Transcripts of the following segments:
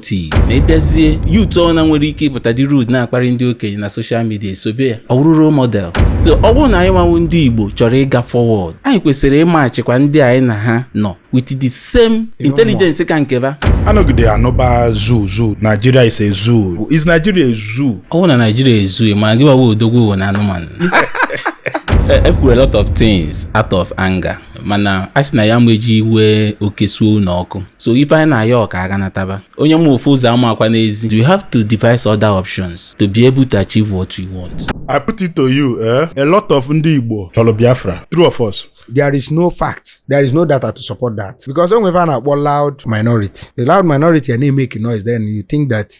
tii ma ị bịazie youth ọ na nwere ike ịpụta dị rude na-akparị ndị okenye na social media e sobe ya ọ bụrụ role model so ọ bụrụ na anyị nwa wụ ndị igbo chọrọ ịga forward anyị kwesịrị ịmatchikwa ndị anyị na ha nọ with the same intelligence ka nkeba anọgide anụba zoo zoo Nigeria is a zoo is Nigeria a zoo ọ bụrụ na Nigeria a zoo ma gị gbawa odogwu ụwa na anụmanụ ekwuru a lot of things out of anger mana a sị na ya ma eji iwe oke suo ụlọ ọkụ so ife anyị na-ayọ ọ ka a ga nataba onye ma ofu ụzọ amaakwa n'ezi you have to devise other options to be able to achieve what you want I put it to you eh? a lot of ndị Igbo chọrọ Biafra true or false there is no fact there is no data to support that because o nwe ife a na-akpọ loud minority the loud minority a na-emeke noise then you think that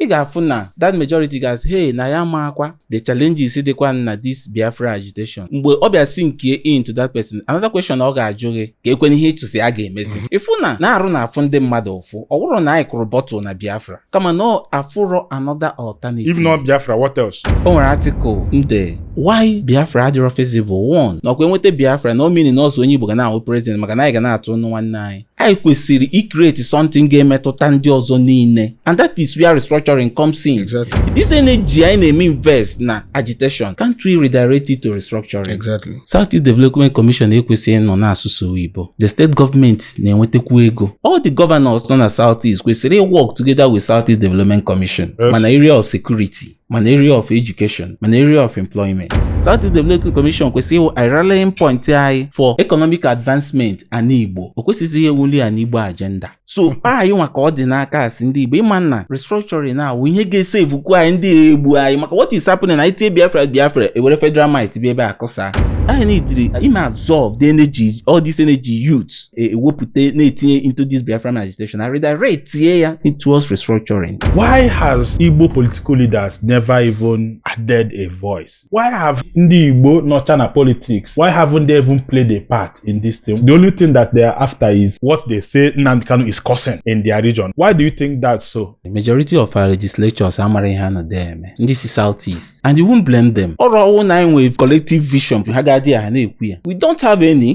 ị ga-afụ na that majority ga-asị hey na ya maakwa the challenges dịkwa na this Biafra agitation mgbe ọ bịa sinkie into that person another question ọ ga-ajụ gị keekwanụ ihe ị chọ sị a ga-emezi mm-hmm. ị fụ na na-arụ na-afụ ndị mmadụ ụfụ ọ bụrọ na anyị kụrụ bottle na Biafra kama na afụrọ another alternative if not Biafra what else o nwere article m de why Biafra adịrọ feasible one na ọkwa e nweta Biafra na o mini na ọ sọ onye Igbo ga na-awụ president maka na anyị ga na-atụ nwanne anyị anyị kwesịrị icreate something ga-emetụta ndị ọzọ niile and that is where restructuring comes in exactly. this energy anyị na-eme invest na agitation can't we redirect it to restructuring exactly. South East Development Commission ekwesịghị ịnọ na-asụ sọ oyibo the state government na-enwetakwu ego all the governors nọ na South East kwesịrị iwork together with South East Development Commission yes. ma na area of security ma na area of education ma na area of employment. South East Development Commission kwesịrị ịwụ a rallying point anyị for economic advancement ana Igbo o kwesịrị iwuli ana Igbo agenda so hmm. mkpa anyị nwa ka ọ dị n'aka ịsị ndị Igbo ị ma na restructuring na-awụ ihe ga-esavekwu anyị ndị a egbu anyị maka what is happening na i tie Biafra Biafra e were federal might bịa ebe a kụsa anyị na-ejiri ime absorb the energy all this energy youth ewepụta na-etinye into this Biafran agitation and redirectie ya towards restructuring. Why has Igbo political leaders never even added a voice? Why have ndị Igbo nọcha na politics? Why haven't they even played a part in this thing? The only thing that they are after is what they say Nnamdi Kanu is causing in their region. Why do you think that's so? The majority of our legislators amarọ ihe ha nọ there eme. Ndị si South East and you won't blame them. Ọrụ ọ wụ na anyị nwere collective vision ha ga-adị ya ha na-ekwu ya. We don't have any.